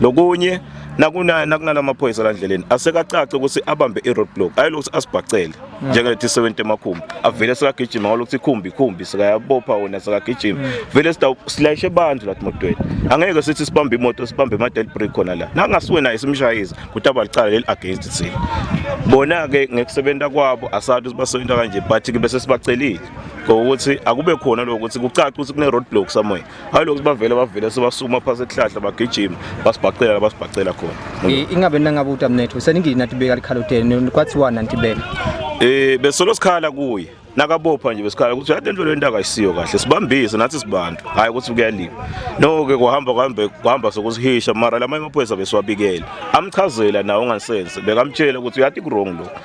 lokunye nakuna nakunala maphoyisa la ndleleni asekacaca ukuthi abambe i-road block ayilokuthi asibhacele mm. njengalethi sebentu emakhumbi avele sekagijima ngalokuthi ikhumbi ikhumbi sekayabopha wona sekagijima mm. vele silayishe abantu lathi motweni angeke sithi sibambe imoto sibambe ama-del break khona la nangasuwe naye simshayise kuthi abalicala leli against thina bona-ke ngekusebenza kwabo asathi sibasebenza kanje but-ke bese sibacelile ngokuthi akube khona lokho ukuthi kucace ukuthi kune-road block somewhere hayi lokhu bavele bavele sebasukuma phasi esihlahla bagijima basibhacela basibhacela khona ingabe nangabe utamnetho seningini nathi beka likhaloteni kwathiwa nanti beka eh besolo sikhala kuye nakabopha nje besikhala ukuthi yade into lento akayisiyo kahle sibambise nathi sibantu hayi ukuthi kuyaliwa no ke kuhamba kuhambe kuhamba sokusihisha mara lamanye amaphoyisa besiwabikela amchazela nawo ngansense bekamtshela ukuthi uyati wrong lo